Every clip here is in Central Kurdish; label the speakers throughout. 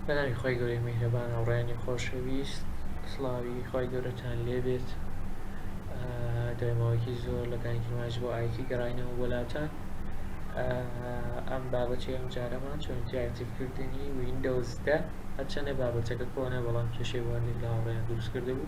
Speaker 1: بەناوی خوای گەورەی میهرەبان هاوڕێیانی خۆشەویست سڵاوی خوای گەورەتان لێبێت دوای ماوەیەکی زۆر لە کانی کرماش بۆ ئایتی گەڕاینەوە بۆ لاتان ئەم بابەتی ئەم جارەمان چۆن تیاکتیفکردنی وینندۆزدە هەرچەندە بابەتەکە کۆنە بەڵام کێشەی واردێک لە هاوڕێیان دروست کردبوو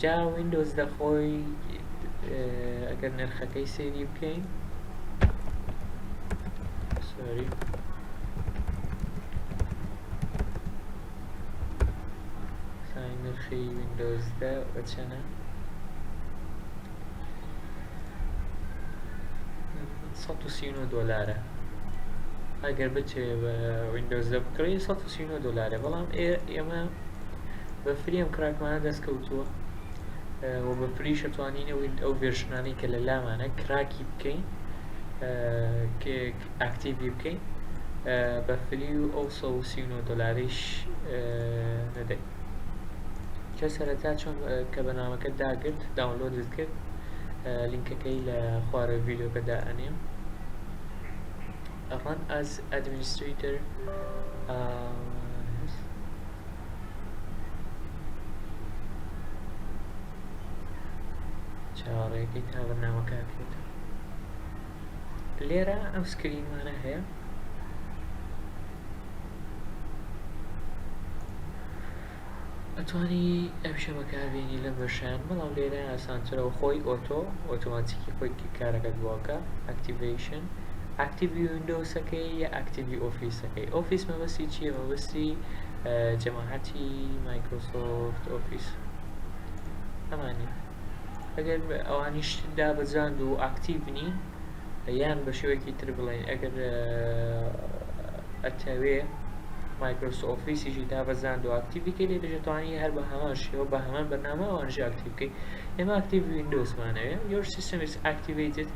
Speaker 1: جا ویندۆز لە خۆی ئەگەر نرخەکەی سێری بکەین سۆری سای نرخی ویندۆز دە بە چەنە دۆلارە ئەگەر بچێ بە ویندۆز دە بکڕی دۆلارە بەڵام ئێمە بە فری ئەم کراکمانە دەست کەوتووە و بە فریش ئەتوانین ئەو ڤێرشنانەی کە لە لامانە کراکی بکەین ئاکتیڤی بکەین بە فری و ئەو 139 دلاریش نەدەین کە سەرەتا چۆن کە بەنامەکە داگرت داونلۆدت کرد لینکەکەی لە خوارە ڤیددیوکەدا ئەنێم run as administrator uh, چاوەڕێکەی تا بەرنامەکە بکرێتەوە لێرە ئەم سکرینمانە هەیە ئەتوانی ئەم شەمەکاربیێنی لە بەشان بەڵام لێرە ئاسانترەوە خۆی ئۆتۆ ئۆتۆماتیکی خۆی کارەکەت بۆکە ئەکتیڤشن ئاکتیڤی ویندۆسەکەی یا ئاکتیڤی ئۆفیسەکەی ئۆفیس مەبەستی چیە مەبەستی جەماعەتی مایکرۆسۆفت ئۆفیس ئەمانە ئەگەر ئەوانیش دابەزاند و ئاکتیڤ نین یان بە شێوەیەکی تر بڵێن ئەگەر ئەتەوێ مایکرۆسۆ ئۆفیسیشی تا بەزان و ئاکتیڤیکە لێ دەژێتوانی هەر بە هەمان شێوە بە هەمان بەنامە ئەوانژ ئاکتیڤکەی ئێمە ئاکتیڤ وینندۆسمانەوێ یۆر سیستمیس ئاکتیڤیتد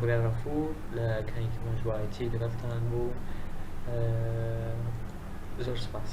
Speaker 1: برای غەفور لە کەنیکی مەرجوعایەتی لەگەڵتان بوو زۆر سوپاس.